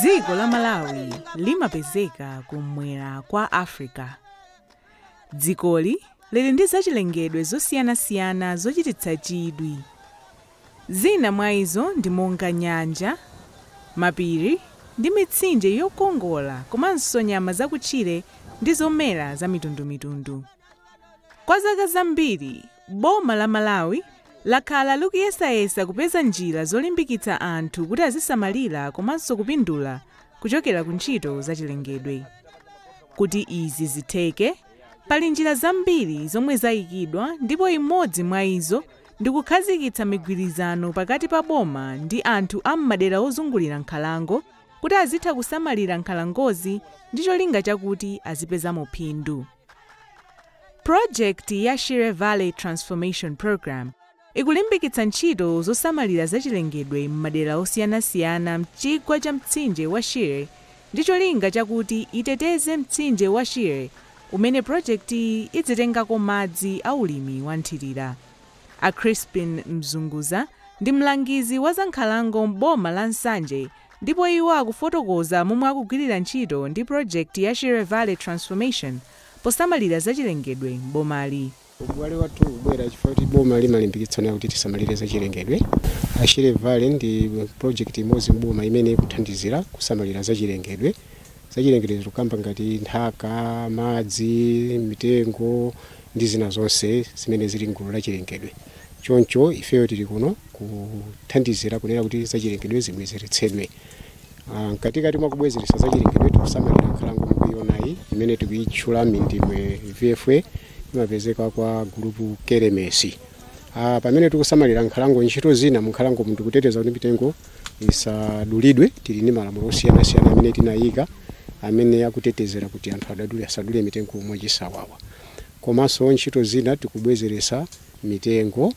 dziko la malawi limapezeka kum'mwera kwa africa dzikoli lili ndi zachilengedwe zosiyanasiyana zochititsa chidwi zina mwa izo ndi monga nyanja mapiri ndi mitsinje yokongola komanso nyama zakutchire ndi zomera zamitundumitundu Kwa zaka zambiri, boma la Malawi lakhala likuyesayesa kupeza njira zolimbikitsa anthu kuti azisamalira komanso kupindula kuchokera ku ntchito zachilengedwe. Kuti izi zitheke, pali njira zambiri zomwe zaikidwa ndipo imodzi mwa izo ndi kukhazikitsa migwirizano pakati pa boma ndi anthu a m'madera ozungulira nkhalango kuti azitha kusamalira nkhalangozi ndi cholinga chakuti azipezamo phindu. Pulojekiti ya Shire Valley Transformation Program ikulimbikitsa ntchito zosamalira zachilengedwe m'madera osiyanasiyana m'chigwa cha mtsinje wa Shire ndi cholinga chakuti iteteze mtsinje wa Shire umene pulojekitiyi idzitengako madzi a ulimi wamthirira. A Chrispin Mzunguza ndi mlangizi wa zankhalango m'boma la Nsanje Ndipo iwo akufotokoza momwe akugwirira ntchito ndi pulojekiti ya Shire Valley Transformation posamalira zachilengedwe m'bomali. Ubale wathu ukubwera chifukwa choti boma limalimbikitsa nkhani yakuti tisamalire zachilengedwe. A Shire Valley ndi pulojekiti imodzi m'boma imene ikuthandizira kusamalira zachilengedwe. Zachilengedwe tikukamba ngati nthaka, madzi, mitengo ndi zina zonse zimene zili m'gulu la chilengedwe. Choncho ifeyo tili kuno kuthandizira kunena kuti zachilengedwe zibwezeretsedwe. Mkatikati mwa kubwezeretsa zachilengedwe, tikusamalira nkhalango mukuionayi imene tikuitchula Mindimwe VFA imapezeka kwa gulupu Kelemesi. Ah, pamene tikusamalira nkhalango, ntchito zina munkhalangomu ndikuteteza kuti mitengo isadulidwe. Tili ndi malamulo osiyanasiyana amene tinaika amene akutetezera kuti anthu adadule asadule mitengo mwachisawawa. komanso ntchito zina tikubwezeretsa mitengo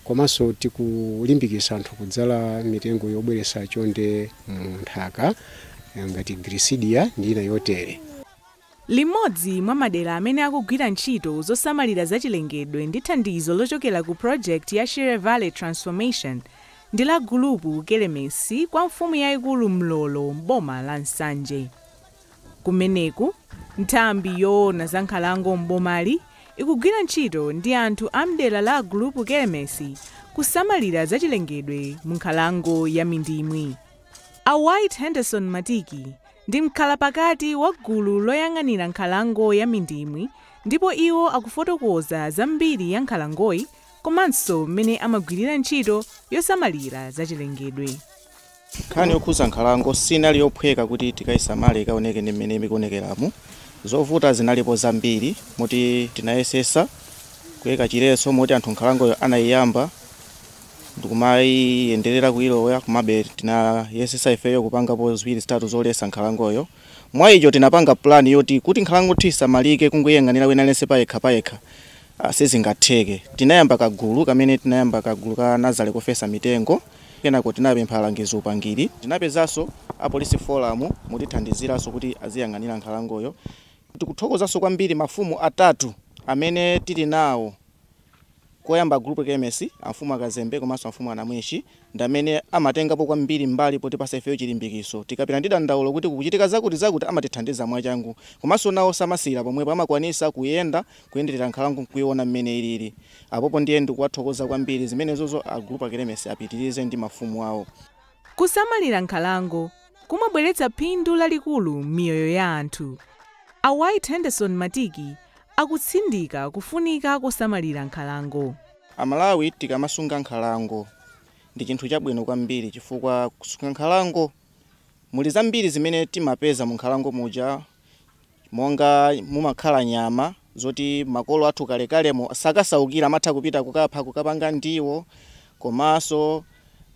komanso tikulimbikitsa anthu kudzala mitengo yobweretsa chonde mu nthaka ngati Gliricidia ndi ina yotere. Limodzi mwa madera amene akugwira ntchito zosamalira zachilengedwe ndi thandizo lochokera ku project ya Shire Valley Transformation ndi la Gulupu Kelemesi kwa mfumu yaikulu Mlolo m'boma la Nsanje. Kumeneku, nthambi yoona za nkhalango m'bomali ikugwira ntchito ndi anthu a m'dera la a Gulupu Kelemesi kusamalira zachilengedwe mu nkhalango ya Mindimwi. A White Henderson Matiki ndi mkhalapakati wa gulu loyang'anira nkhalango ya Mindimwi ndipo iwo akufotokoza za mbiri ya nkhalangoyi komanso m'mene amagwirira ntchito yosamalira zachilengedwe. Nkhani yokhudza nkhalango sinali yophweka kuti tikaisamale ikaoneke ngati mmene ikuonekeramu. Zovuta zinalipo zambiri moti tinayesetsa kuika chiletso moti anthu nkhalangoyo anaiyamba ndikumaiyenderera kuilowa komabe tinayesetsa ifeyo kupangapo ziwiri zitatu zoletsa nkhalangoyo. Mwa ichi tinapanga plan yoti kuti nkhalango kuti isamalike kungoiyang'anira wina aliyense payekha payekha ah, sizingatheke. Tinayamba kagulu kamene tinayamba kagulu ka nazale kofesa mitengo. Kenako tinapempha alangizi upangiri. Tinapezanso a polisi forum motithandiziranso kuti aziyang'anira nkhalangoyo. Tikuthokozanso kwambiri mafumu atatu amene tili nawo, koyamba a Gulupu Kelemesi, amfumu a Kazembe komanso amfumu a Namwinshi ndi amene amatengapo kwambiri mbali potipatsa ifeyo chilimbikitso. Tikapita ndi dandaulo kuti kukuchitika zakuti zakuti amatithandiza mwachangu. Komanso nawo samasiyira pomwepo, amakwanitsa kuyenda, kuyenderera nkhalango n'kuiona mmene ilili. Apopo ndiye ndikuwathokoza kwambiri. Zimenezozo a Gulupu Kelemesi apitirize ndi mafumu awo. Kusamalira nkhalango kumabweretsa phindu lalikulu m'miyoyo ya anthu. A White Henderson Matiki akutsindika kufunika kosamalira nkhalango. Amalawi tikamasunga nkhalango ndi chinthu chabwino kwambiri chifukwa kusunga nkhalango muli zambiri zimene timapeza munkhalango muja. Monga mumakhala nyama zoti makolo athu kalekalemo sakasaukira, amatha kupita kukapha kukapanga ndiwo. Komanso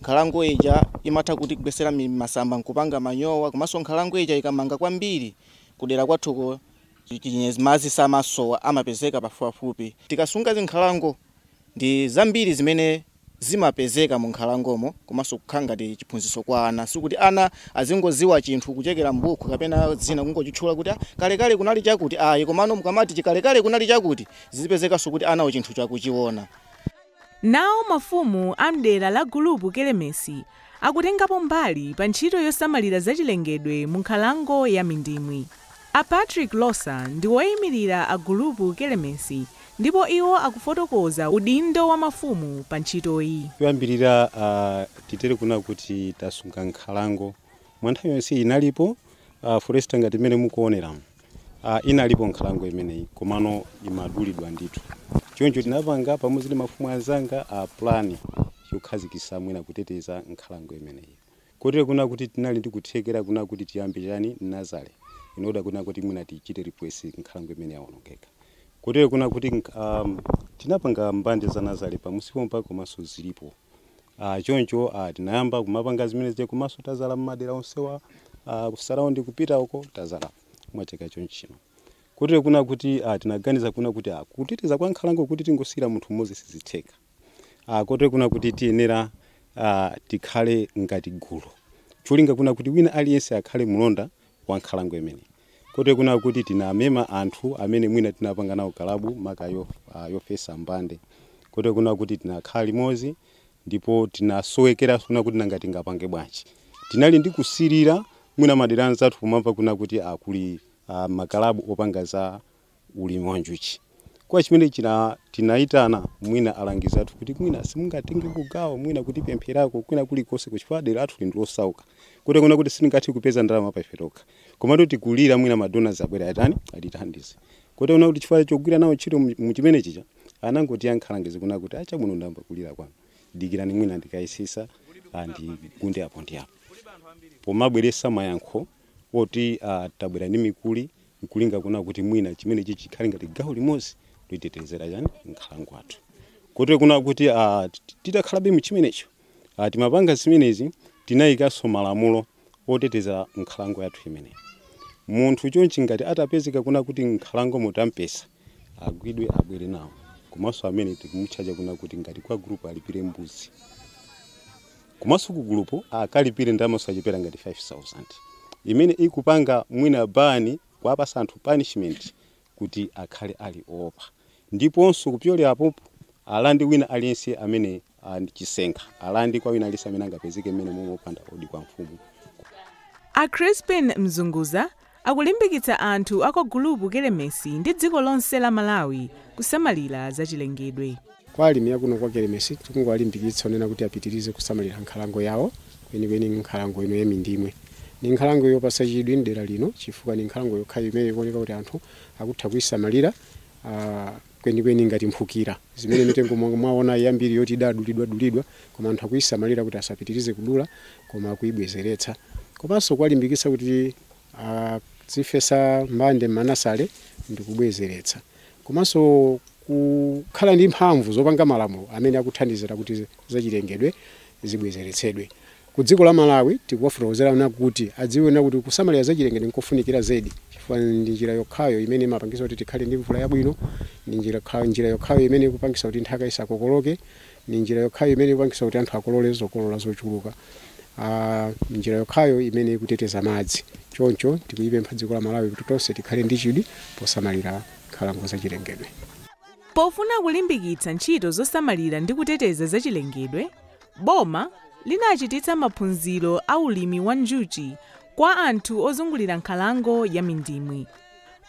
nkhalango ija imatha kutigwetsera masamba nkupanga manyowa. Komanso nkhalango ija ikamanga kwambiri, kudera kwathuko madzi samasowa, amapezeka pafupipafupi. Tikasunga zinkhalango, ndi zambiri zimene zimapezeka mu nkhalangomo komanso kukhala ngati chiphunzitso kwa ana. Sikuti ana azingoziwa chinthu kuchokera m'bukhu kapena zina kungochitchula kuti a kalekale kunali chakuti ayi komano mukamati kalekale kunali chakuti zizipezekanso kuti anawo chinthucho akuchiona. Nawo mafumu a m'dera la Gulupu Kelemesi akutengapo mbali pa ntchito yosamalira zachilengedwe mu nkhalango ya Mindimwi. A Patrick Losa ndi woimilira a Gulupu Kelemesi ndipo iwo akufotokoza udindo wa mafumu pa ntchitoyi. Choyambilira a titere kunena kuti tasunga nkhalango mwa nthawi yonse inalipo a forest ngati mmene mukuoneramu a inalipo nkhalango imeneyi komano imadulidwa ndithu choncho tinapanga pamodzi ndi mafumu anzanga a plan yokhazikisa mwina kuteteza nkhalango imeneyi. Kotero kuna kuti tinali ndi kuthekera kuna kuti tiyambe chiyani, nazale, in order kuna kuti mwina tichite replace nkhalango imene yawonongeka. Kotero kuna kuti umm tinapanga mbande za nazale pamusi pompa komanso zilipo. Aah choncho aah tinayamba kumapanga zimene zija komanso tadzala mmadera onsewa aah ku surround kupita uko tadzala mwa chaka chonchino. Kotero kuna kuti aah tinaganiza kuna kuti aah kuteteza kwa nkhalango kuti tingosiyira munthu mmodzi sizitheka. Ah, kotero kuna kuti tiyenera ah, tikhale ngati gulu cholinga kuna kuti wina aliyense akhale mlonda wa nkhalango imene kotero kuna kuti tinamema anthu amene mwina tinapanga nawo kalabu maka yo, ah, yofesa mbande kotero kuna kuti tinakhala limodzi ndipo tinasowekera kuna kuti nanga tingapange bwanji tinali ndi kusilira mwina madera anzathu kumamva kuna kuti akuti ah, makalabu opanga za ulimi wa njuchi. Kwa chimene china tinaitana mwina alangizi athu kuti mwina simungatenge kugawa mwina kutipempherako kwina kulikonse kuchifukwa dera lathu ndi losauka kuti kuona kuti sitingathe kupeza ndalama pa ife tokha komatu tikulira mwina madonors abwera atani atithandize kuti kuona kuti chifukwa chogwira nawo ntchito mu- mu chimene chija anangotiyankha alangizi kuna kuti ah chabwino ndamva kulira kwanu dikirani mwina ndikayesetsa ndigunde apo ndi apo pomabweretsa mayankho oti ah, tabwera ndi mikuli n'kulinga kuna kuti mwina chimenechi chikhale ngati gawo limodzi lotetezera chani nkhalango yathu kotero kuna kuti ah, tit- titakhalabe mu chimenecho ah, timapanga zimenezi tinayikanso malamulo otetezera nkhalango yathu imeneyi munthu chonchi ngati atapezeka kuna kuti nkhalango mutampeza agwidwe abwere nawo komanso amene tikumutchaja kuna kuti ngati kwa gulupu alipire mbuzi komanso ku gulupu akalipire ndalama zosachepera ngati 5000 imene ikupanga mwina bani kuwapatsa anthu punishment kuti akhale akuopa ndiponso kupyolera apopo alande wina aliyense amene ali ndi chisenga alande kwa wina aliyense amene angapezeke mmene momwe opanda odi kwa mfumu A Crispin Mzunguza akulimbikitsa anthu a kwa gulupu Kelemesi ndi dziko lonse la Malawi kusamalira zachilengedwe. kwa alimi akuno kwa kelemesi tikungowalimbikitsa onena kuti apitirize kusamalira nkhalango yawo kwenikweni nkhalango ino ya Mindimwe ni nkhalango yopatsa chidwi mdera lino chifukwa ni nkhalango yokhayo imene ikuoneka kuti anthu akutha kuyisamalira ah, kwenikweni ngati mphukira, zimene mitengo monga mwaona yambiri yoti idadulidwadulidwa koma anthu akuyisamalira kuti asapitirize kudula koma akuyibwezeretsa komanso kuwalimbikitsa kuti azifesa mbande m'manazale ndi kubwezeretsa komanso kukhala ndi mphamvu zopanga malamulo amene akuthandizira kuti zachilengedwe zibwezeretsedwe. Ku dziko la Malawi tikuwafotokozera ana kuti adziwe na kuti kusamalira zachilengedwe nkofunikira zedi chifukwa ndi njira yokhayo imene imapangisa kuti tikhale ndi mvula yabwino, ndi njira yokhayo imene ikupangisa kuti nthaka isakokoloke, ndi njira yokhayo imene ikupangisa kuti anthu akolole zokolola zochuluka, ndi njira yokhayo imene ikuteteza madzi. Choncho tikulipempha dziko la Malawi kuti tonse tikhale ndi chidwi posamalira nkhalango zachilengedwe. Pofuna kulimbikitsa ntchito zosamalira ndi kuteteza zachilengedwe, Boma linachititsa maphunziro a ulimi wa njuchi kwa anthu ozungulira nkhalango ya Mindimwi.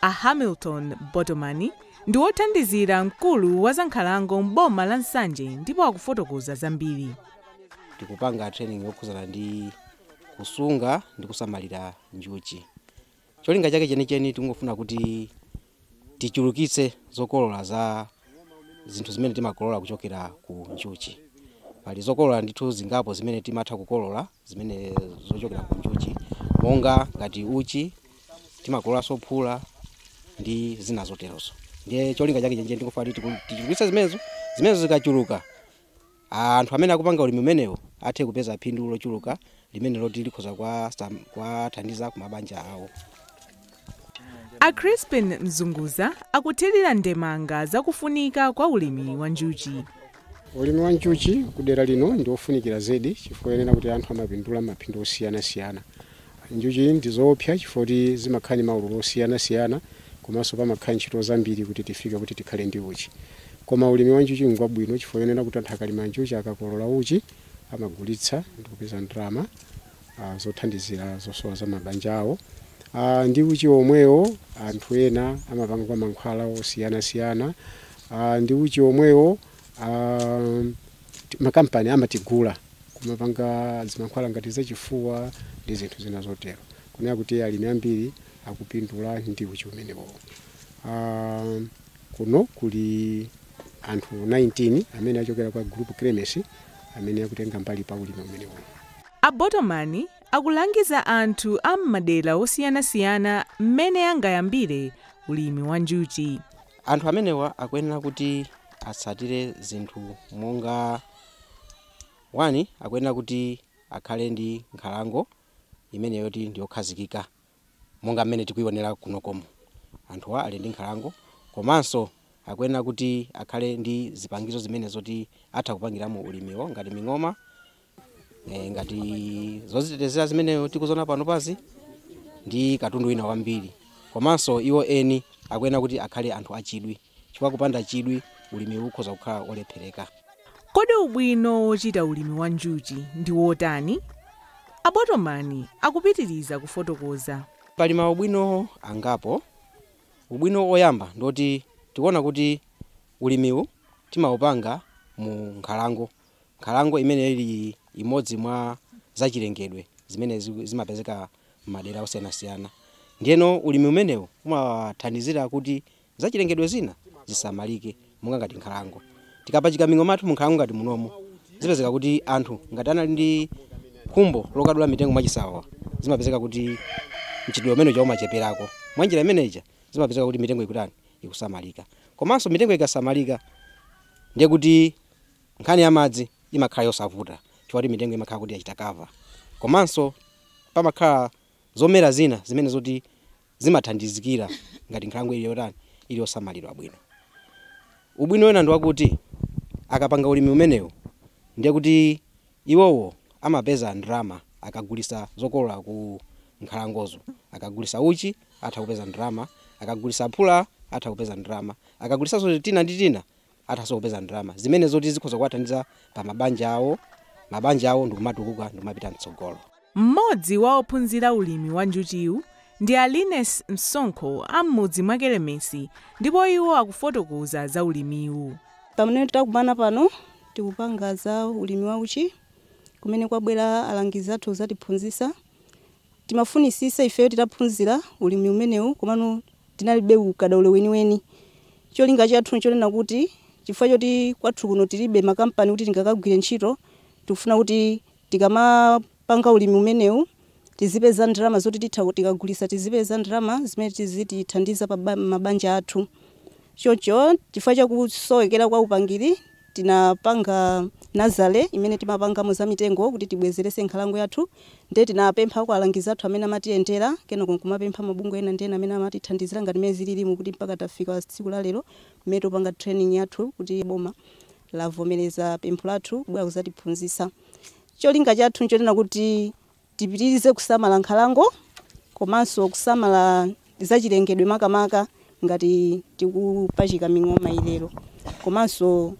A Hamilton Botomani ndi wothandizira mkulu wa zankhalango m'boma la Nsanje ndipo akufotokoza zambiri. Tikupanga training yokhudzana ndi kusunga ndi kusamalira njuchi. Cholinga chake chenicheni tikungofuna kuti tichulukitse zokolola za zinthu zimene timakolola kuchokera ku njuchi. Pali zokolola ndithu zingapo zimene timatha kukolola zimene zochokera ku njuchi monga ngati uchi, timakololanso phula ndi zina zoterozo. Ndiye cholinga chake chenicheni tikufuna kuti tiku- tichulukitse zimenezo, zimenezo zikachuluka anthu amene akupanga ulimi umenewu athe kupeza phindu lochuluka limene loti likhoza kuwasam- kuwathandiza ku mabanja awo a crispin mzunguza akuthirira ndemanga zakufunika kwa ulimi wa njuchi ulimi wa njuchi kudera lino ndi wofunikira zedi chifukwa chonena kuti anthu amapindula maphindu osiyanasiyana Njuchi ndi zoopsa chifukwa choti zimakhala ndi maululo osiyana siyana komanso pamakhala ntchito zambiri kuti tifike kuti tikhale ndi uchi. Koma ulimi wa njuchi ngwabwino chifukwa chonena kuti anthu akalima njuchi akakolola uchi amagulitsa ndikupeza ndalama zothandizira zosowa za mabanja awo. Ndi uchi omwewo anthu ena amapanga mankhwala osiyana siyana. Ndi uchi omweo. makampani amatigula kumapanga mankhwala ngati zachifuwa ndi zinthu zina zotero kunena kuti alimi ambiri akupindula ndi uchi umenewo uh, kuno kuli anthu 19 amene achokera kwa group kremes amene akutenga mbali pa ulimi umenewo a botomani akulangiza anthu a m'madera osiyanasiyana mmene angayambire ulimi wa njuchi Anthu amenewa akuyenera kuti atsatire zinthu monga 1 akuyenera kuti akhale ndi nkhalango imene yoti ndi yokhazikika monga mmene tikuionera kunokomu. Anthuwa ali ndi nkhalango komanso akuyenera kuti akhale ndi zipangizo zimene zoti atha kupangiramo ulimiwo ngati ming'oma e, ngati zozitetezera zimene tikuzona panopazi ndi katundu wina wambiri komanso iwo eni akuyenera kuti akhale anthu achidwi chifukwa kupanda chidwi ulimiwu ukhoza kukhala olephereka kodi ubwino wochita ulimi wa njuchi ndi wotani a Botomani akupitiriza kufotokoza pali maubwino angapo ubwino oyamba ndiwoti tikuona kuti ulimiwu timaupanga mu nkhalango Nkhalango imeneyo ili imodzi mwa zachilengedwe zimene ziku- zimapezeka m'madera osiyanasiyana ndiyeno ulimi umenewu umathandizira kuti zachilengedwe zina zisamalike monga ngati nkhalango tikapachika ming'oma yathu munkhalango ngati munomo zimapezeka kuti anthu ngati anali ndi khumbo lokadula mitengo mwachisawawa zimapezeka kuti mchitidwe umene uja umacheperako mwanjira imene ija zimapezeka kuti mitengo ikutani ikusamalika komanso mitengo ikasamalika ndiye kuti nkhani ya madzi imakhala yosavuta chifukwa chakuti mitengo imakhala kuti yachita cover. Komanso pamakhala zomera zina zimene zoti zimathandizikira ngati nkhalango ili yotani, ili yosamalidwa bwino. Ubwino wina ndi wakuti akapanga ulimi umenewu ndiye kuti iwowo amapeza ndalama akagulitsa zokolola ku nkhalangozo. Akagulitsa uchi atha kupeza ndalama, akagulitsa phula atha kupeza ndalama, akagulitsanso tina ndi tina athaso kupeza ndalama zimene zoti zikhoza kuwathandiza pa mabanja awo mabanja awo ndikumatukuka ndikumapita mtsogolo Mmodzi wa ophunzira ulimi wa njuchiwu ndi a Liness Msonkho a m'mudzi mwa Kelemesi ndipo iwo akufotokoza za ulimiwu. Pamene takumana pano tikupanga za ulimi wa uchi kumene kwabwera alangizi athu kuzatiphunzisa Timafunisisa ifeyo titaphunzira ulimi umenewu komano tinalibe ukadaulo weniweni. Cholinga chathu nchonena kuti chifukwa choti kwathu kuno tilibe makampani kuti tingakagwire ntchito, tikufuna kuti tikamapanga ulimi umenewu tizipeza ndalama zoti titha tikagulisa tizipeza ndalama zimene zizitithandiza pa mabanja athu. Choncho chifukwa chakusowekera kwa upangiri. Tinapanga nazale imene timapangamo za mitengo kuti tibwezeretse nkhalango yathu ndiye tinapempha kwa alangizi athu amene amatiyendera kenako nkumapempha mabungwe ena ndi ena amene amatithandizira ngati mmene zililimu kuti mpaka tafika tsiku la lero mmene tikupanga training yathu kuti boma lavomereza pempho lathu kubwera kuzatiphunzitsa. Cholinga chathu nchonena kuti Tipitirize kusamala nkhalango komanso kusamala zachilengedwe makamaka ngati tikupachika ming'oma iliyo komanso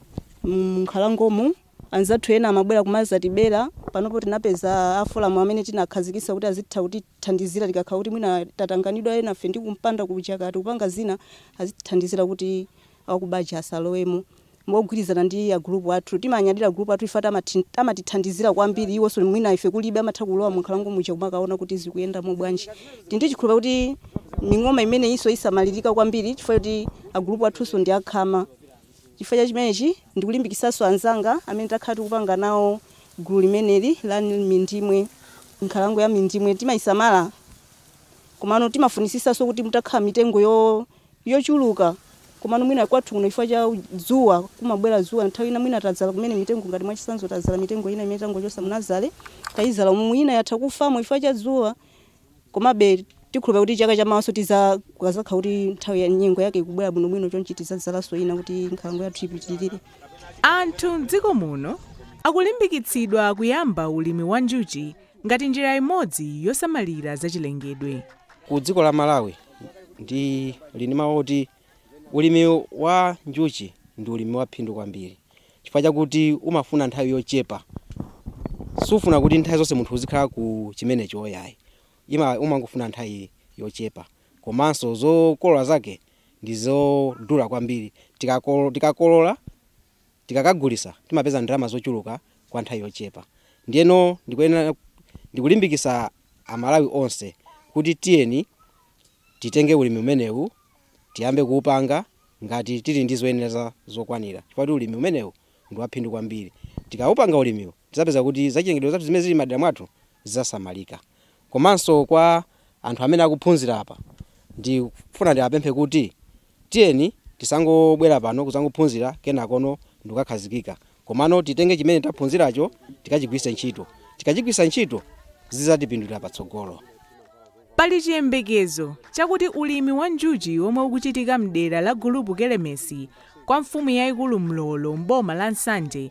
m'nkhalangomu anzathu ena amabwera kumazatibera. Panopo tinapeza a foramu amene tinakhazikitsa kuti azitha kutithandizira tikakhala kuti mwina tatanganidwa enafe ndi kumpanda kuja kaya tikupanga zina, azitithandizira kuti akuba aja asalowemo mogwirizana ndi a group athu timanyadira group athu chifukwa amati amatithandizira kwambiri iwonso mwina ife kulibe amatha kulowa mu nkhalango muja kumakaona kuti zikuyenda mobwanji tili ndi chikhulupiriro kuti ming'oma imeneyinso isamalirika kwambiri chifukwa kuti a group athunso ndi akhama chifukwa cha chimenechi ndikulimbikitsanso anzanga amene takhala tikupanga nawo gulu limeneli la mindimwe nkhalango ya mindimwe timayisamala komano timafunisisanso kuti mutakhala mitengo yo yochuluka komano mwina kwathu kuno chifukwa cha dzuwa kumabwera dzuwa nthawi ina mwina tadzala kumene mitengo ngati mwachisanzo tadzala mitengo ina imene tangochosa mu nazale tayizala umu ina yatha kufamo chifukwa cha dzuwa komabe tikukhulupira kuti chaka chamawaso tiza kukazakhala kuti nthawi ya nyengo yake ikubwera bwinobwino chonchi tizadzalaso ina kuti nkhalango yathu ipitirire Anthu m'dziko muno akulimbikitsidwa kuyamba ulimi wa njuchi ngati njira imodzi yosamalira zachilengedwe. Ku dziko la Malawi ndili ndi mawu oti ulimi wa njuchi ndi ulimi wa phindu kwambiri chifukwa chakuti umafuna nthawi yochepa sufuna kuti nthawi zonse munthu uzikhala ku chimenecho ayi umangofuna nthawi yochepa komanso zokolola zake ndi zodula kwambiri tikakolola tikakagulisa timapeza ndalama zochuluka kwa nthawi yochepa ndiyeno ndikuyenera ndikulimbikisa aMalawi onse kuti tiyeni titenge ulimi umenewu tiyambe kuupanga ngati tili ndi zoyenereza zokwanira chifukwa kuti ulimi umenewu ndiwaphindu kwambiri tikaupanga ulimiwu tizapeza kuti zachilengedwe zathu zimene zili mmadera mwathu zizasamalika komanso kwa anthu amene akuphunzira apa ndikufuna ndiwapemphe kuti Tiyeni tisangobwera pano kudzangophunzira kenakono ndikukakhazikika komano titenge chimene taphunziracho tikachigwiritse ntchito. Tikachigwiritsa ntchito zidzatipindulira patsogolo. Pali chiyembekezo chakuti ulimi wa njuchi womwe ukuchitika mdera la Gulupu Kelemesi kwa mfumu yaikulu Mlolo m'boma la Nsanje